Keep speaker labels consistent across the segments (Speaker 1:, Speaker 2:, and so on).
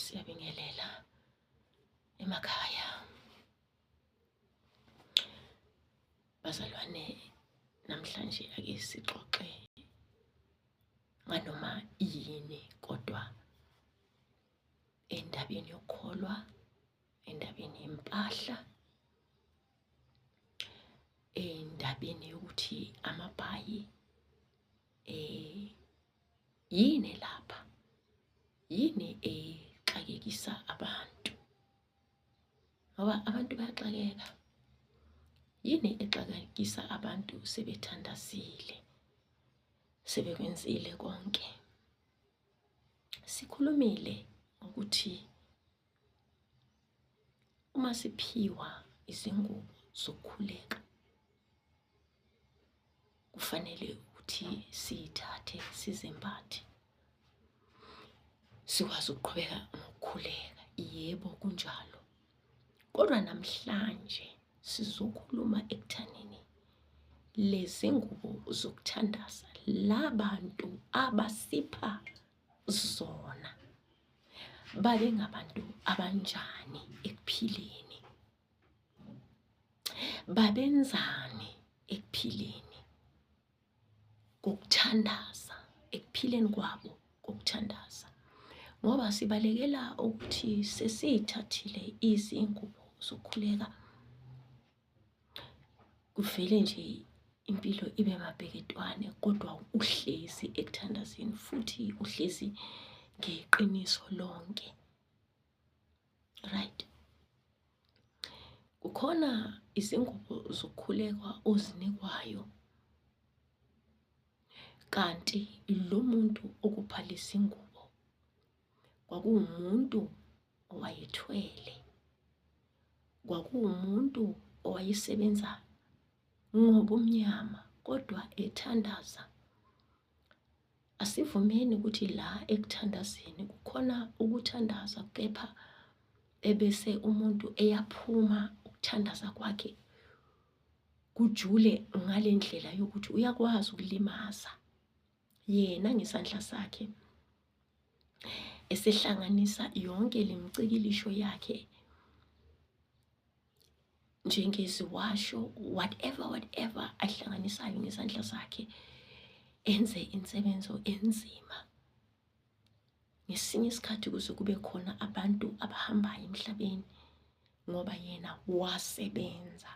Speaker 1: siyabingelela emakhaya bazalwane namhlanje ake sixoxe nganoma yini kodwa endabeni yokholwa endabeni yempahla endabeni yokuthi amabhayi eh yini lapha yini exakekisa abantu ngoba abantu bayaxakeka yini exakekisa abantu sebethandazile sebekwenzile konke sikhulumile ukuthi Uma siphiwa izingubo zokukhuleka kufanele ukuthi siyithathe sizembathe sikwazi ukuqhubeka ngokukhuleka yebo kunjalo kodwa namhlanje sizokhuluma ekuthanini lezi ngubo zokuthandaza labantu abasipha zona babe ngabantu abanjani ekuphileni babenzani ekuphileni kokuthandaza ekuphileni kwabo kokuthandaza ngoba sibalekela ukuthi sesithathile izingubo zokukhuleka kuvele nje impilo ibe mabheketwane kodwa uhlezi ekuthandazeni futhi uhlezi ngeqiniso lonke right kukhona izingubo zokukhulekwa ozinikwayo kanti lo muntu okuphalisa ingubo kwakuwumuntu owayethwele kwakuwumuntu owayesebenza ngobumnyama kodwa ethandaza asivumeni ukuthi la ekuthandazeni kukhona ukuthandaza kepha ebese umuntu eyaphuma ukuthandaza kwakhe kujule ngale ndlela yokuthi uyakwazi ukulimaza yena ngesandla sakhe esehlanganisa yonke le micikilisho yakhe njengeziwasho whatever whatever ayihlanganisayo ngezandla zakhe enze insebenzo enzima ngesinye isikhathi kuze kube khona abantu abahambayo emhlabeni ngoba yena wasebenza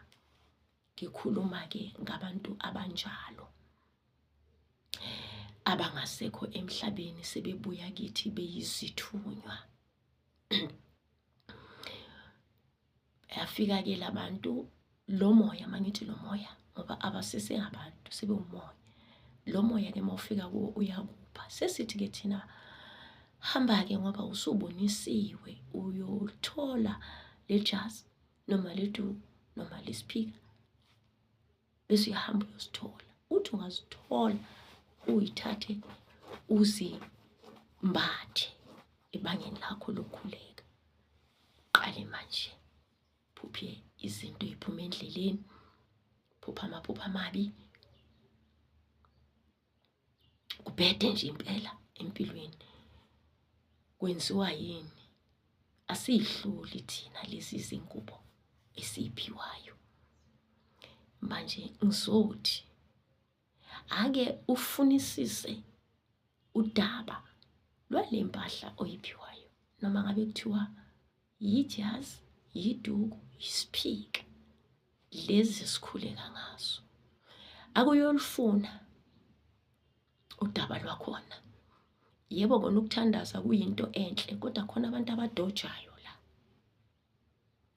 Speaker 1: Ngikhuluma-ke ngabantu abanjalo abangasekho emhlabeni sebebuya kithi beyizithunywa. Yafika-ke labantu lo moya mangithi lo moya ngoba abasese abantu sebewumoya. Lo moya-ke mawufika kuwo uyakupha. Sesithi-ke thina hamba-ke ngoba usubonisiwe uyothola le jazi noma liduku noma lisiphika bese uyahamba uyosithola uthi ungazithola uyithathe uzimbathe ebangeni lakho lokukhuleka qale manje phuphe izinto eziphuma endleleni phupha amaphupha amabi kubhede nje impela empilweni kwenziwa yini asiyihluli thina lezi zingubo esiyiphiwayo manje ngizothi ake ufunisise udaba lwale mpahla oyiphiwayo noma ngabe kuthiwa yijazi yiduku yisiphika lezi esikhuleka ngazo akuyolufuna udaba lwakhona yebo kona ukuthandaza kuyinto enhle kodwa khona abantu abadojayo la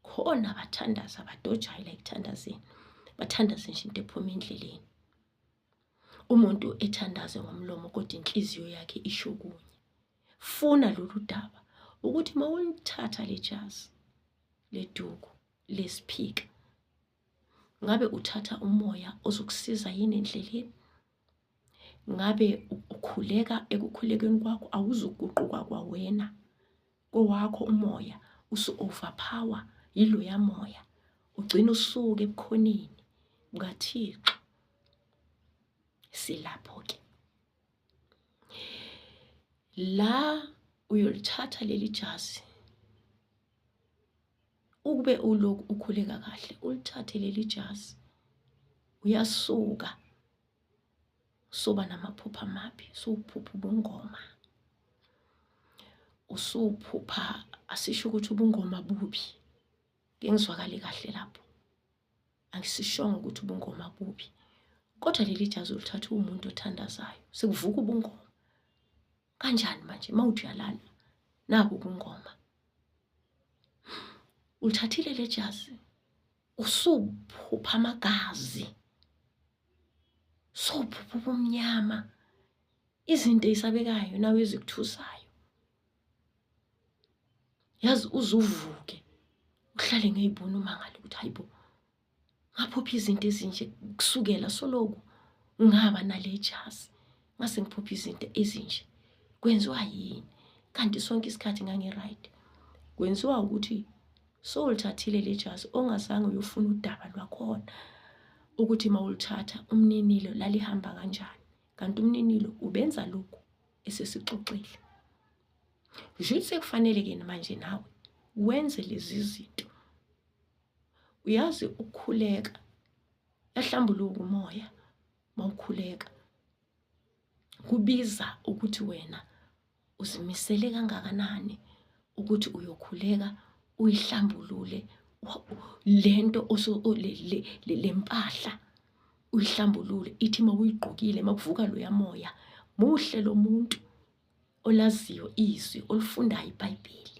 Speaker 1: khona abathandaza abadojayo la ekuthandazeni bathandaze nje into ephuma endleleni umuntu ethandaze ngomlomo kodwa inhliziyo yakhe isho kunye funa lolu daba ukuthi uma ulithatha le jazi leduku lesiphika ngabe uthatha umoya ozokusiza yini endleleni ngabe ukhuleka ekukhulekeni kwakho awuzuguquka kwawena kowakho umoya usu-overpower yiloya moya ugcina usuke ebukhoneni bukathixo silapho-ke la uyolithatha leli jazi ukube uloku ukhuleka kahle ulithathe leli jazi uyasuka soba namaphupha amabi suphupha ubungoma usuphupha asisho ukuthi ubungoma bubi ngengizwakali kahle lapho angisishongo ukuthi ubungoma bubi kodwa leli jazi olithatha uwumuntu othandazayo sekuvuka ubungoma kanjani manje uma uthi uyalala naku ubungoma ulithathile le jazi usuphupha amagazi sophupha ubumnyama izinto eyisabekayo nawe ezikuthusayo yazi uzuvuke uhlale ngeyibona umangale ukuthi hayibo ngaphupha izinto ezinje kusukela soloku ngaba nale jazi ngase ngiphupha izinto ezinje kwenziwa yini kanti sonke isikhathi ngangi-right kwenziwa ukuthi sowulithathile le jazi ongazange uyofuna udaba lwakhona ukuthi mawulithatha umninilo lalihamba kanjani kanti umninilo ubenza lokhu esesixoxile nje sekufanele ke manje nawe wenze lezi zinto uyazi ukukhuleka yahlambuluka umoya mawukhuleka kubiza ukuthi wena uzimisele kangakanani ukuthi uyokhuleka uyihlambulule lento le mpahla uyihlambulule ithi uma uyigqokile uma kuvuka loya moya muhle lo muntu olaziyo izwi olifundayo ibhayibheli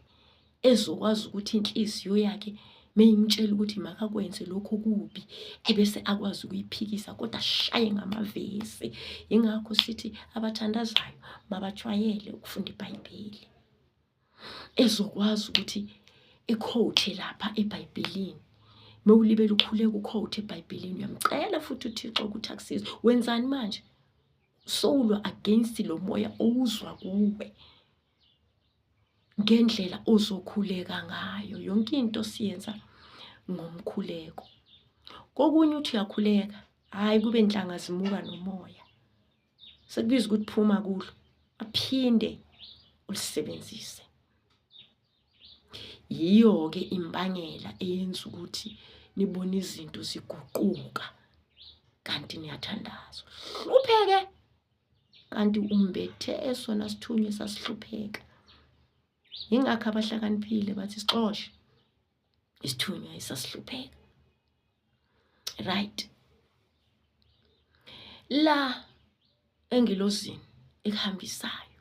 Speaker 1: ezokwazi ukuthi inhliziyo yakhe meyimtshela ukuthi makakwenze lokho kubi ebese akwazi ukuyiphikisa kodwa ashaye ngamavesi yingakho sithi abathandazayo mabajwayele ukufunda ibhayibheli ezokwazi ukuthi ikhowuthe lapha ebhayibhelini mewulibele ukhuleka ukhowuthe ebhayibhelini uyamcela futhi uthixo ukuthi akusize wenzani manje sowulwa against lo moya owuzwa kuwe ngendlela ozokhuleka ngayo yonke into siyenza ngomkhuleko kokunye uthi uyakhuleka hhayi kube nhlanga zimuka nomoya sekubiza ukuthi phuma kulo aphinde ulisebenzise yiyo ke imbangela eyenza ukuthi nibone izinto ziguquka kanti niyathandaza hlupheke kanti umbethe esona sithunywa sasihlupheka yingakho abahlakaniphile bathi sixoshe isithunywa esasihlupheka right la engilozini ekuhambisayo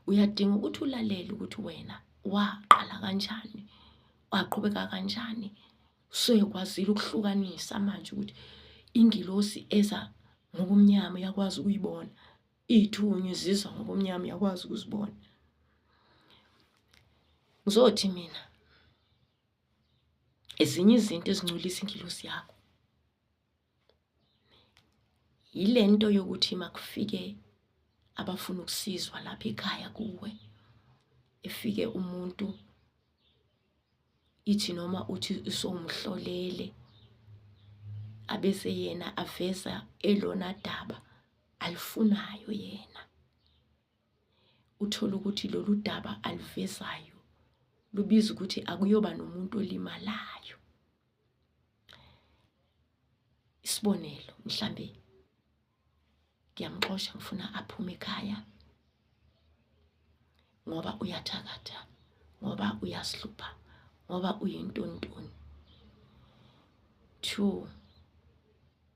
Speaker 1: uyadinga ukuthi ulalele ukuthi wena waqala kanjani waqhubeka kanjani sekwazile ukuhlukanisa manje ukuthi ingilosi eza ngobumnyama uyakwazi ukuyibona Iy'thunywa izizwa ngobumnyama uyakwazi ukuzibona. Ngizothi mina ezinye izinto ezincolisa ingilosi yakho yile nto yokuthi makufike abafuna ukusizwa lapha ekhaya kuwe efike umuntu ithi noma uthi usomhlolele abese yena aveza elona daba alifunayo yena uthole ukuthi lolu daba aluvezayo lubiza ukuthi akuyoba nomuntu olimalayo isibonelo mhlambe ngiyamxosha ngifuna aphume ekhaya ngoba uyathakatha ngoba uyasihlupha ngoba uyintontoni two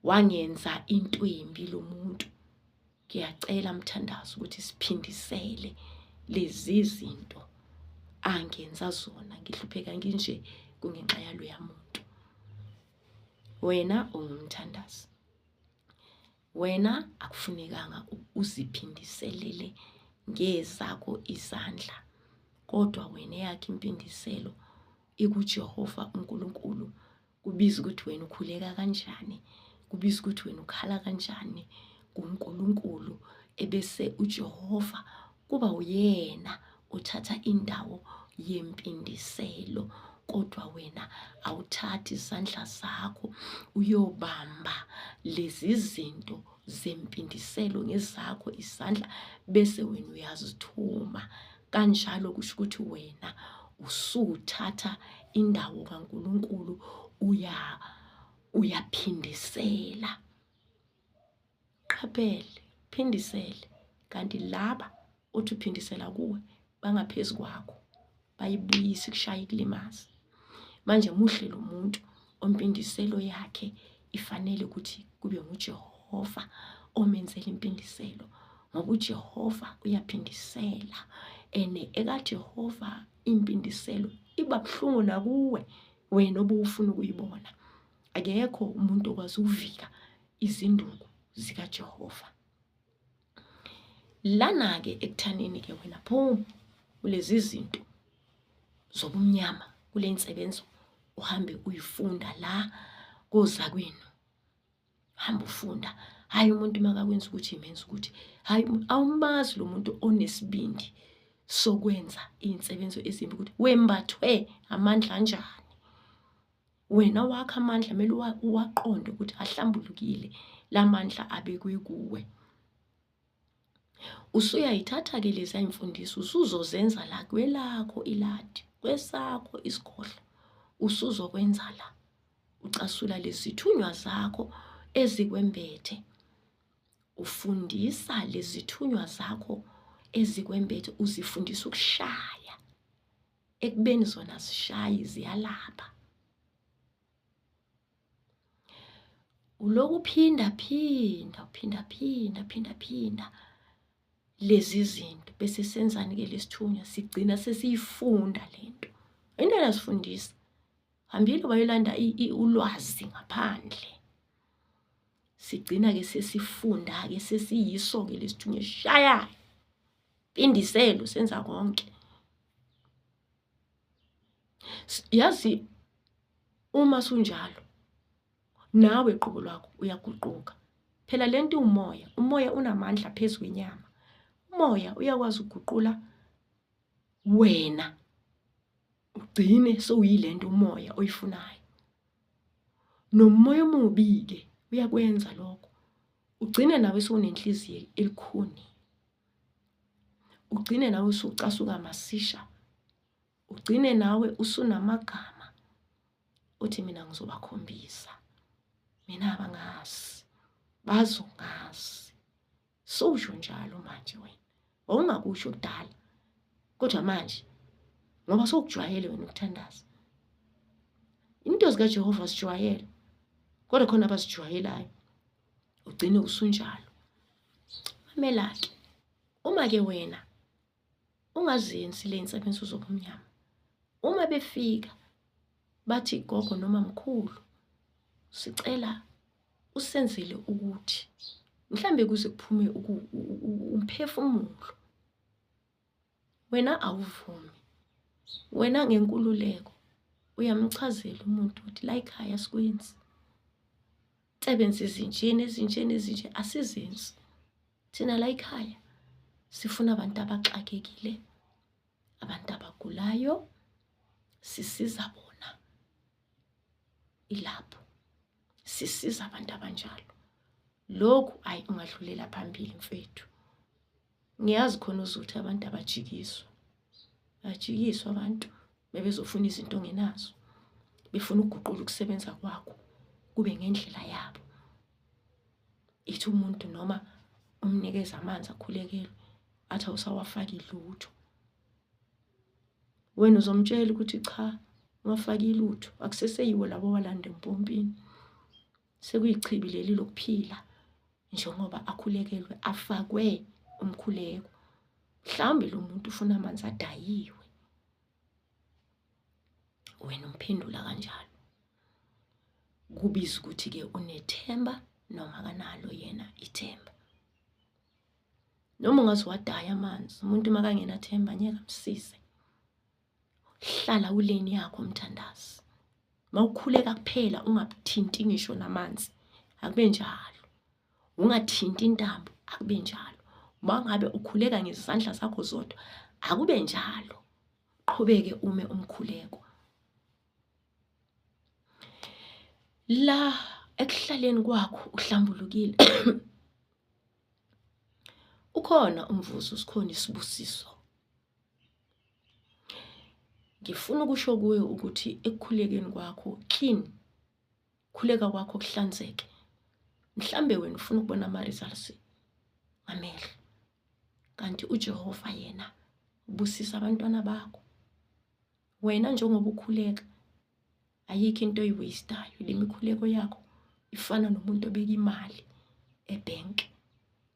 Speaker 1: wangenza into embi lo muntu ngiyacela mthandazi ukuthi siphindisele lezi zinto angenza zona ngihlupheka nginje kungenxa yaloya muntu wena ungumthandazi wena akufunekanga uziphindiselele ngezakho izandla kodwa wena eyakhe impindiselo ikuJehova uNkulunkulu kubiza ukuthi wena ukhuleka kanjani kubiza ukuthi wena ukhala kanjani kuNkulunkulu ebese uJehova kuba uyena uthatha indawo yempindiselo kodwa wena awuthathi izandla zakho uyobamba lezi zinto zempindiselo ngezakho izandla bese wena uyazithuma kanjalo kusho ukuthi wena usuthatha indawo kaNkuluNkulu uya uyaphindisela Qaphele, phindisele kanti laba uthi uphindisela kuwe bangaphezu kwakho bayibuyise kushaye kulimaze manje muhle lo muntu ompindiselo yakhe ifanele ukuthi kube nguJehova omenzela impindiselo ngoba uJehova uyaphindisela and ekaJehova impindiselo iba buhlungu nakuwe wena obufuna ukuyibona akekho umuntu okwazi ukuvika izinduku zikaJehova lana-ke ekuthaneni-ke wena phuma kulezi zinto zobumnyama kule nsebenzo uhambe uyifunda la kozakwenu hamba ufunda hhayi umuntu makakwenza ukuthi imenza ukuthi hhayi awumazi lo muntu onesibindi sokwenza iy'nsebenzo ezimbi ukuthi wembathwe amandla anjani wena wakho amandla kumele uwaqonde ukuthi ahlambulukile la mandla abekwe kuwe usuyayithatha-ke lezi ayimfundiso usuzozenza la kwelakho iladi kwesakho isikhohlo usuzokwenza la ucasula lezithunywa zakho ezikwembethe ufundisa lezithunywa zakho ezikwembethe uzifundisa ukushaya ekubeni zona zishayi ziyalapha uloku phinda phinda phinda phinda phinda phinda lezi zinto bese senzani ke lesithunywa sigcina sesiyifunda lento into enasifundisa hambile bayolanda ulwazi ngaphandle sigcina ke sesifunda ke sesiyiso ke lesithunywa shayayo Indiselo senza konke. Yazi uma sunjalo nawe qobo lwakho uyaguquka. Phela lento umoya, umoya unamandla phezulu kwenyama. Umoya uyakwazi ukuguqula wena ugcine sowuyilento umoya oyifunayo nomoya omubi-ke uyakwenza lokho ugcine nawe sowunenhliziyo elikhuni ugcine nawe usucasuka masisha ugcine nawe usunamagama uthi mina ngizobakhombisa mina abangazi bazongazi Sowusho njalo manje wena. Wawungakusho kudala. Kodwa manje ngoba sokujwayele wena ukuthandaza. Into zika Jehova sijwayele. Kodwa khona abasijwayelayo. Ugcine usunjalo. Mamela ke. Uma ke wena ungazenzi le insebenzo zobumnyama uma befika bathi gogo noma mkhulu sicela usenzele ukuthi mhlambe kuze kuphume umphefumulo wena awuvumi wena ngenkululeko uyamchazela umuntu ukuthi la ekhaya sikwenzi sebenza izinjeni ezinjeni ezinje asizenzi thina la ikhaya sifuna abantu abaxakekile abantu abagulayo sisiza bona ilapho sisiza abantu abanjalo lokhu ayi ungadlulela phambili mfethu ngiyazi khona uzuthi abantu abajikiswa bajikiswa abantu bebezofuna izinto ongenazo befuna ukuguqula ukusebenza kwakho kube ngendlela yabo ithi umuntu noma umnikeza amanzi akhulekelwe athi awusawafaki lutho wena uzomtshela ukuthi cha wafaki lutho akuseseyiwo labo walanda empompini sekuyichibi leli lokuphila njengoba akhulekelwe afakwe umkhuleko mhlawumbe lo muntu ufuna amanzi adayiwe wena umphendula kanjalo kubiza ukuthi-ke unethemba noma kanalo yena ithemba noma ungaze wadaya amanzi umuntu makangenathemba ngeke amsize hlala uleni yakho mthandazi mawukhuleka kuphela ungathinti ngisho namanzi akube njalo ungathinti intambo akube njalo mangabe ukhuleka ngezandla zakho zodwa akube njalo qhubeke ume umkhuleko la ekuhlaleni kwakho uhlambulukile ukhona umvuzo sikhona isibusiso ngifuna ukusho kuwe ukuthi ekukhulekeni kwakho clean khuleka kwakho kuhlanzeke mhlambe wena ufuna ukubona ama results amehlo kanti uJehova yena ubusisa abantwana bakho wena njengoba ukhuleka ayikho into oyiwastayo le mikhuleko yakho ifana nomuntu obeka imali ebhenki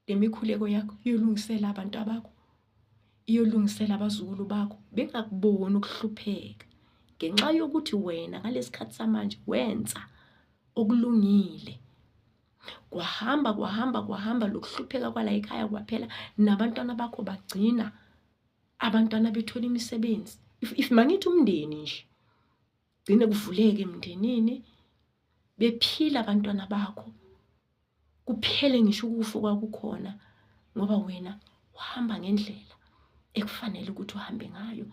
Speaker 1: le mikhuleko yakho iyolungisela abantu abakho iyolungisela abazukulu bakho bengakuboni ukuhlupheka ngenxa yokuthi wena ngalesikhathi samanje wenza okulungile kwahamba kwahamba kwahamba lokuhlupheka kwala ekhaya kwaphela nabantwana bakho bagcina abantwana bethola imisebenzi if, if mangithi umndeni nje gcine kuvuleke emndenini bephila abantwana bakho kuphele ngisho ukufa kwakukhona ngoba wena uhamba ngendlela ekufanele ukuthi uhambe ngayo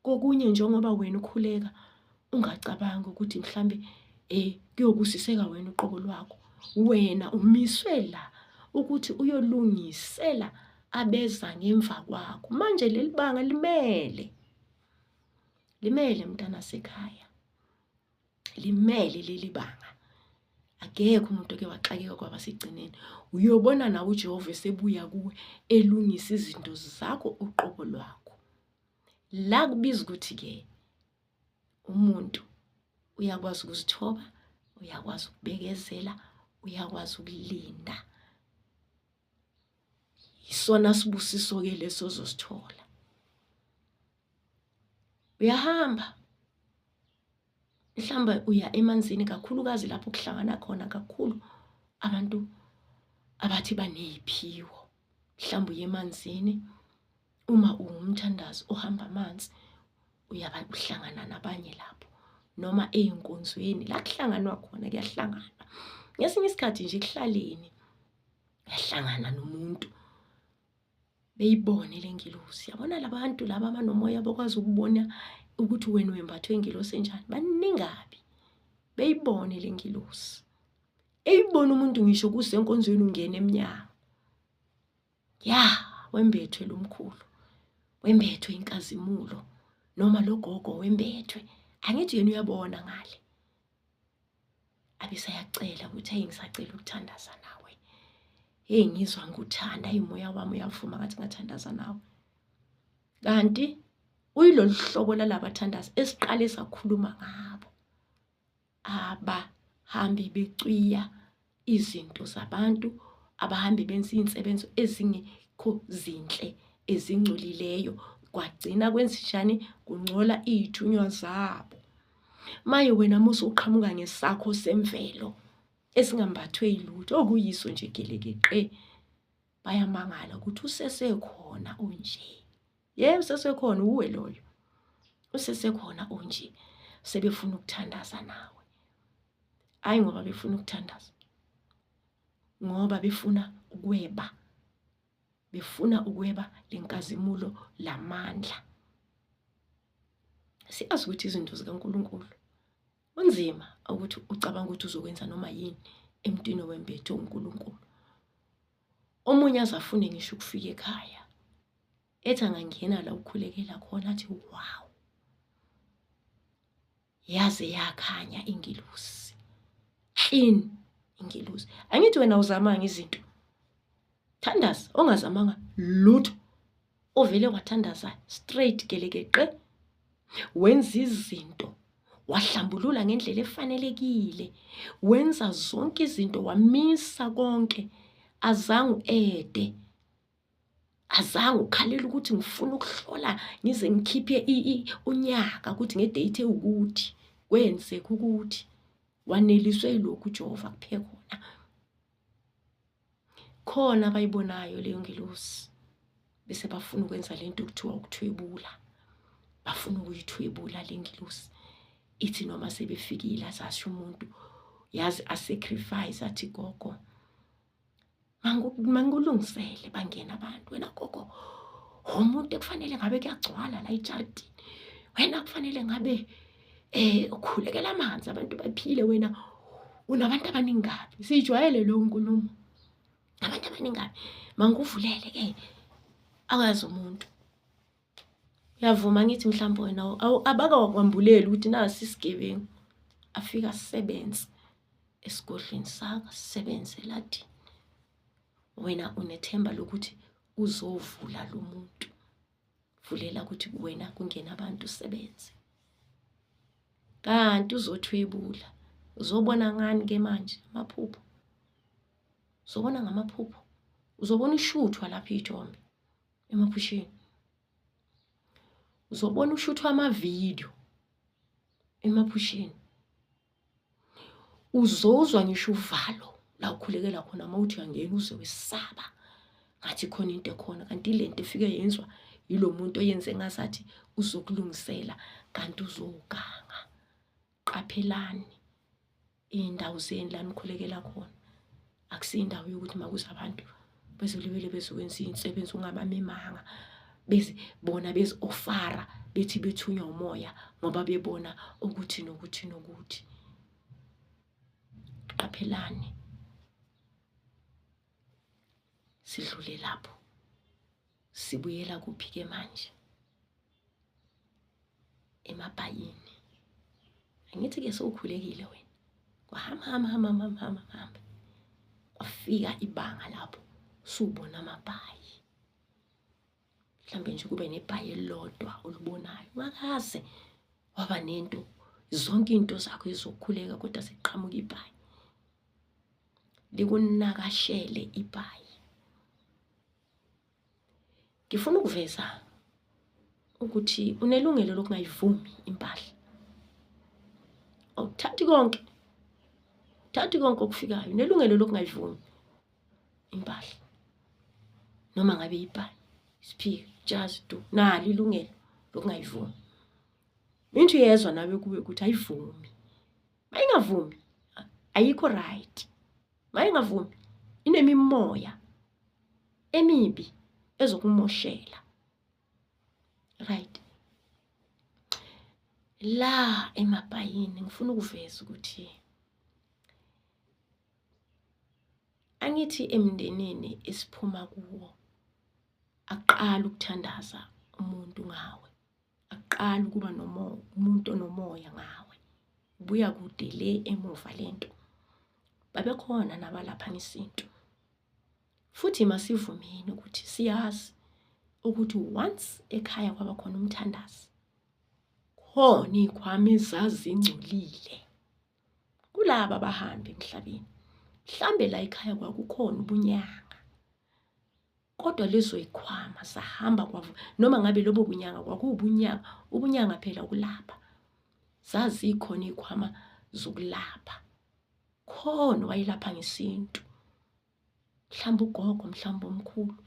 Speaker 1: kokunye njengoba wena ukhuleka ungacabangi ukuthi mhlambe eh kuyobusiseka wena uqobo lwakho wena umiswe la ukuthi uyolungisela abeza ngemva kwakho manje leli banga limele limele mntana sekhaya limele leli banga akekho umuntu oke waxakeka kwaba sigcineni uyobona nawe ujehova esebuya kuwe elungisa izinto zakho uqobo lwakho la kubiza ukuthi-ke umuntu uyakwazi ukuzithoba uyakwazi ukubekezela uyakwazi ukulinda isona sibusiso ke leso zosithola uyahamba mhlawumbe uya emanzini kakhulukazi lapho kuhlangana khona kakhulu abantu abathi baneyiphiwo mhlawumbe uye emanzini uma ungumthandazi ohamba amanzi uyaba uhlangana nabanye lapho noma eyinkonzweni la kuhlanganwa khona kuyahlanganwa ngesinye isikhathi nje kuhlaleni yahlangana nomuntu beyibone le ngilosi yabona labantu laba abanomoya bakwazi ukubona ukuthi wena wembathwe ingilosi enjani baningabi beyibone le ngilosi eyibona umuntu ngisho kusenkonzweni ungena emnyango ya wembethwe lo mkhulu wembethwe inkazimulo noma logogo wembethwe angithi yena uyabona ngale abisayacela ukuthi ayi ngisacela ukuthandaza nawe hey ngizwa ngikuthanda imoya wami uyavuma ngathi ngathandaza nawe kanti uyilolu hlobo lalabathandazi esiqale sakhuluma ngabo abahambi becwiya izinto zabantu abahambe benza iy'nsebenzo ezingekho zinhle ezingcolileyo kwagcina kwenzenjani kungcola iy'thunywa zabo maye wena musa uqhamuka ngesakho semvelo esingambathwe yilutho okuyiso nje gelekeqe bayamangala ukuthi usesekhona unje Yebo sesekhona uwe loyo. Usesekhona onje sebefuna ukuthandaza nawe. Hayi ngoba befuna ukuthandaza. Ngoba befuna ukweba. Befuna ukweba lenkazimulo lamandla. Siyazi ukuthi izinto zikaNkuluNkulu kunzima ukuthi ucabanga ukuthi uzokwenza noma yini emntwini wembethu uNkuluNkulu. omunye aze afune ngisho ukufika ekhaya ethi angangena la ukhulekela khona athi wow yaze yakhanya ingelosi clean ingelosi angithi wena uzamanga izinto thandaza ongazamanga lutho Uvele wathandaza straight gelekeqe wenza izinto wahlambulula ngendlela efanelekile wenza zonke izinto wamisa konke azange uede azange ukhalela ukuthi ngifuna ukuhlola ngize ngikhiphe unyaka ukuthi ngedate ewukuthi kwenzeka ukuthi waneliswe yilokhu uJehova kuphe khona khona abayibonayo leyo ngelosi bese bafuna ukwenza le nto kuthiwa ukuthwebula bafuna ukuyithwebula le ngelosi ithi noma sebefikile azasho umuntu yazi asacrifice athi gogo mangulungisele bangena abantu wena gogo umuntu ekufanele ngabe kuyagcwala la ejardini wena kufanele ngabe eh ukhulekela amanzi abantu baphile wena unabantu abaningi kabi siyijwayele lo nkulumo abantu abaningi kabi mangikuvulele ke akazi umuntu uyavuma ngithi mhlawumbe wena abakakwambuleli ukuthi nasi isigebengu afika sisebenze esigodlweni saka sisebenze lathi wena unethemba lokuthi uzovula lo muntu vulela ukuthi kuwena kungena abantu usebenze kanti uzothwebula uzobona ngani ke manje amaphupho uzobona ngamaphupho uzobona ushuthwa lapha ithombe emaphusheni uzobona ushuthwa amavidiyo emaphusheni uzozwa ngisho uvalo la ukhulekela khona uma uthi uyangena uze wesaba ngathi khona into ekhona kanti le nto efike yenzwa yilo muntu oyenze ngazathi uzokulungisela kanti uzoganga qaphelani iy'ndawo zeni la nikhulekela khona akusiyo indawo yokuthi makuze abantu bezolibele bezokwenza imisebenzi ungabamemanga beze bona beziofara bethi bethunywa umoya ngoba bebona ukuthi nokuthi nokuthi qaphelani sidlule lapho sibuyela kuphi ke manje emabhayini angithi ke sowukhulekile wena kwahamba hamba hamba hamba hamba hamba kwafika ibanga lapho subona amabhayi mhlawumbe nje kube nebhayi elilodwa olubonayo ungakaze waba nento zonke into zakho izokhuleka kodwa seqhamuka ibhayi likunakashele ibhayi ngifuna ukuveza ukuthi unelungelo lokungayivumi impahla awuthathi konke thathi konke okufikayo unelungelo lokungayivumi impahla noma ngabe yibhayi isiphika jazi tu nalo ilungelo lokungayivumi into yezwa nawe kuwe ukuthi ayivumi mayingavumi ayikho right mayingavumi inemimoya emibi ezokumoshela right la emabhayini ngifuna ukuveza ukuthi angithi emndenini esiphuma kuwo aqala ukuthandaza umuntu ngawe akuqali ukuba umuntu onomoya ngawe buya kude le emuva lento babekhona nabalapha ngesintu futhi masivumeni ukuthi siyazi ukuthi once ekhaya kwaba khona umthandazi khona iy'khwama ezazingcolile kulaba abahambi emhlabeni mhlambe la ekhaya kwakukhona ubunyanga kodwa lizoyikhwama sahamba kwavu noma ngabe lobo bunyanga kwakuwubunyanga ubunyanga phela ukulapha zazikhona ikhwama zokulapha khona wayelapha ngesintu mhlawumbe ugogo mhlawumbe omkhulu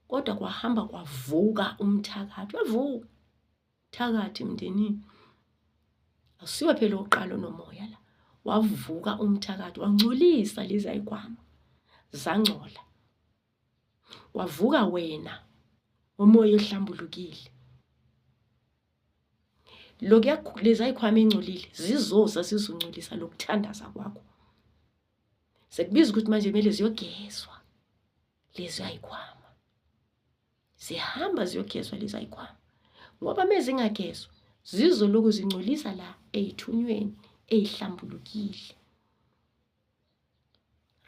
Speaker 1: kodwa kwahamba kwavuka umthakathi wavuka thakathi emndenini akusiwe phela uqalo nomoya la wavuka umthakathi wangcolisa lezi ayikwama zangcola kwavuka wena umoya ohlambulukile lokuya leza ikhwama engcolile zizoza sizoncolisa lokuthandaza kwakho sekubiza ukuthi manje kumele ziyogezwa lezi ayikhwama zihamba ziyogezwa lezi ayikhwama ngoba mezingagezwa zizoloku zincolisa la eyithunyweni eyihlambulukile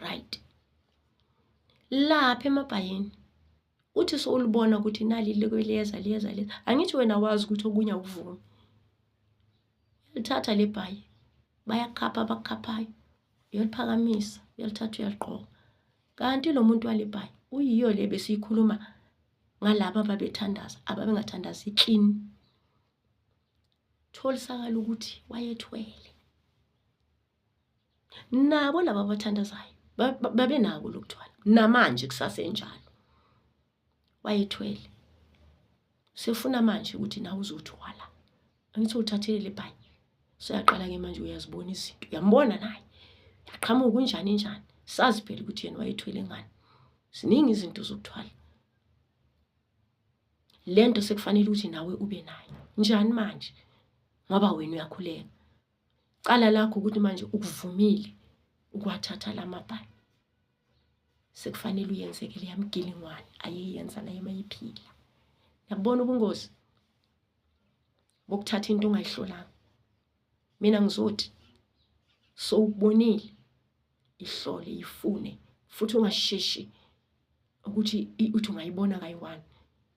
Speaker 1: right lapha emabhayini uthi sowulibona ukuthi nali liyeza liyeza liyeza angithi wena wazi ukuthi okunye awuvumi lithatha le bhayi bayakhapha abakhaphayo uyoliphakamisa uyolithatha uyaligqoka kanti lo muntu wale bhayi uyiyo le besiyikhuluma ngalaba ababethandaza ababengathandazi clean tholisakala ukuthi wayethwele nabo laba abathandazayo babenako lokuthwala namanje kusasenjalo wayethwele sefuna manje ukuthi nawe uzothwala angithi uthathele le bhayi suyaqala-ke manje uyazibona izinto uyambona naye yaqhamuka kunjani njani sazi phela ukuthi yena wayethwele ngani ziningi izinto zokuthwala le nto sekufanele ukuthi nawe ube nayo njani manje ngoba wena uyakhuleka Cala lakho ukuthi manje ukuvumile ukuwathatha la mabhani. Sekufanele uyenzeke leya mgilingwane ayeyenza naye mayiphila. Yabona ubungozi bokuthatha into ongayihlolanga. Mina ngizothi sowubonile ihlole ifune futhi ungasheshi ukuthi uthi ungayibona kayi-one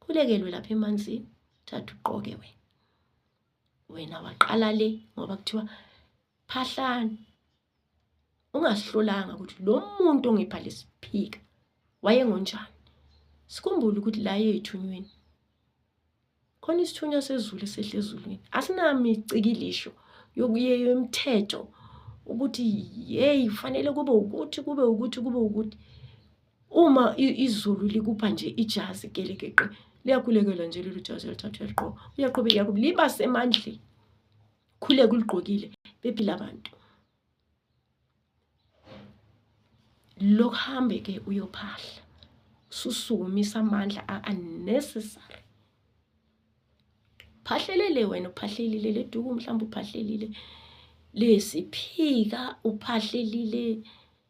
Speaker 1: khulekelwe lapha emanzini thatha uqoke wena wena waqala le ngoba kuthiwa phahlani ungasihlolanga ukuthi lo muntu ongipha lesiphika wayengonjani sikhumbule ukuthi la yethunyweni khona isithunywa sezulu esehle ezulwini asinami icikilisho yokuyeyo imithetho ukuthi yeyi kufanele kube ukuthi kube ukuthi kube ukuthi uma izulu likupha nje ijazi gelekeqe liyakhulekela nje lolu jazi elithathwa eliqoka uyaqhubeka yakuba liba semandleni khuleka uligqokile bephila abantu lokuhambe ke uyophahla susukumisa amandla unnecessary uphahlelele wena uphahlelile leduku mhlawumbe uphahlelile lesiphika uphahlelile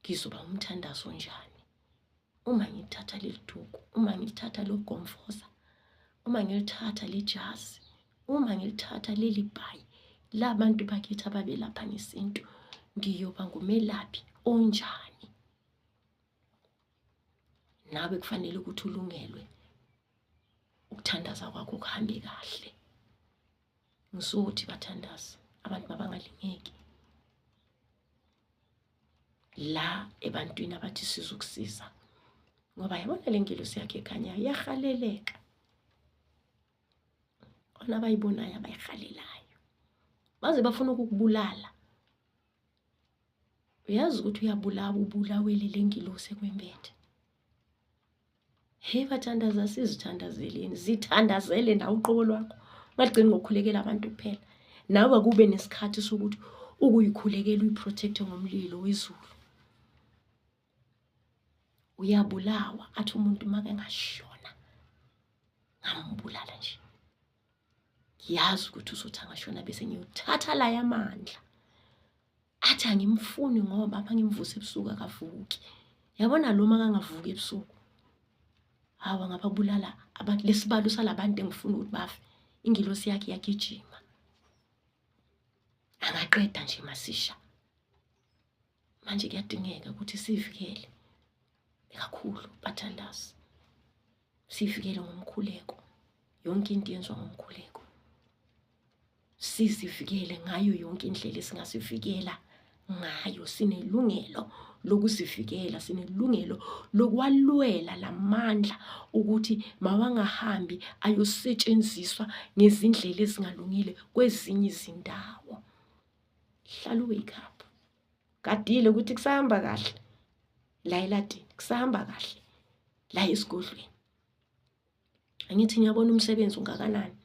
Speaker 1: ngizoba umthandazo onjani uma ngilithatha leli duku uma ngilithatha lo gomfoza uma ngilithatha le jazi uma ngilithatha leli bhayi la bantu bakithi ababelapha ngesintu ngiyoba ngumelaphi onjani nawe kufanele ukuthi ulungelwe ukuthandaza kwakho kuhambe kahle ngisuthi bathandaza abantu mabangalingeki la ebantwini abathi sizokusiza ngoba yabona le ngelosi yakhe ekhanyayo iyahaleleka khona abayibonayo abayihalelayo baze bafuna ukukubulala uyazi ukuthi uyabulawa ubulawele le ngilosi ekwembethe Hey bathandaza sizithandazeleni zithandazele nawe uqobo lwakho ungagcini ngokukhulekela abantu kuphela nawe kube nesikhathi sokuthi ukuyikhulekela uyiprotecte ngomlilo wezulu uyabulawa athi umuntu make ngashona ngambulala nje ngiyazi ukuthi uzothi angashona bese ngiyothatha la yamandla athi angimfuni ngoba apha ngimvuse ebusuku akavuki yabona lo ma kangavuki ebusuku hawa ngababulala abantu lesibalo salabantu engifuna ukuthi bafe ingilosi yakhe yagijima angaqeda nje masisha manje kuyadingeka ukuthi sivikele kakhulu bathandazi sivikele ngomkhuleko yonke into yenziwa ngomkhuleko sizivikele ngayo yonke indlela esingasivikela ngayo sinelungelo lokusivikela sinelungelo lokwalwela lamandla ukuthi mawangahambi ayosetshenziswa ngezindlela ezingalungile kwezinye izindawo hlala uwake up gadile ukuthi kusahamba kahle la eladini kusahamba kahle la esigodlweni angithi ngiyabona umsebenzi ungakanani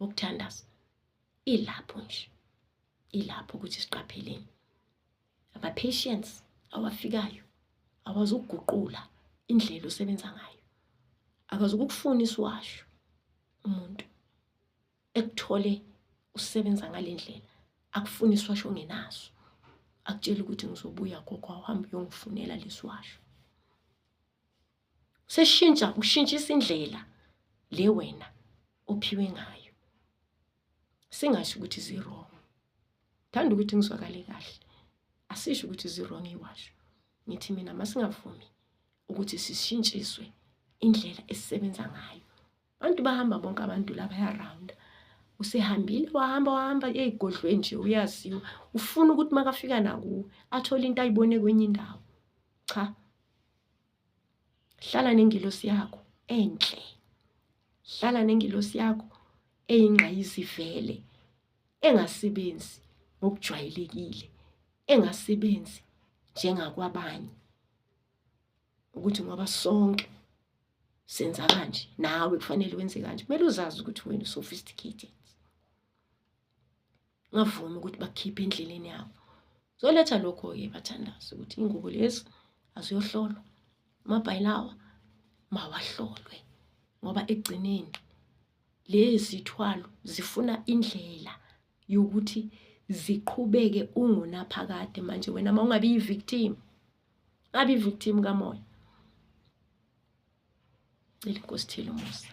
Speaker 1: wokuthandaza ilapho nje ilapho ukuthi siqapheleni ama-patience awafikayo akwazi ukuguqula indlela osebenza ngayo akwazi ukukufuna isiwasho umuntu ekuthole usebenza ngalendlela akufuni iswasho ngenaso akutshela ukuthi ngizobuya gogo awuhambe uyongifunela leswasho seshintsha ushintshisa indlela le wena ophiwe ngayo singasho ukuthi zirong thanda ukuthi ngizwakale kahle asisho ukuthi zirong iwasho ngithi mina masingavumi ukuthi sishintshiswe indlela esisebenza ngayo Abantu bahamba bonke abantu la bayarawunda. Usehambile wahamba wahamba eyigodlweni nje uyaziwa. Ufuna ukuthi makafika nakuwe athole into ayibone kwenye indawo. Cha. Hlala nengilosi yakho enhle. Hlala nengilosi yakho eyingqayizivele engasebenzi ngokujwayelekile, engasebenzi njengakwabanye ukuthi ngoba sonke senza kanje nawe kufanele wenze kanje kumele uzazi ukuthi wena usophisticated ngavumi ukuthi bakhiphe endleleni yabo zoletha lokho-ke bathandazi ukuthi ingubo lezi aziyohlolwa amabhayilawa mawahlolwe ngoba ekugcineni lezithwalo zifuna indlela yokuthi ziqhubeke ungunaphakade manje wena uma ungabi yi-victim abe victim kamoya cela inkosi thile umusa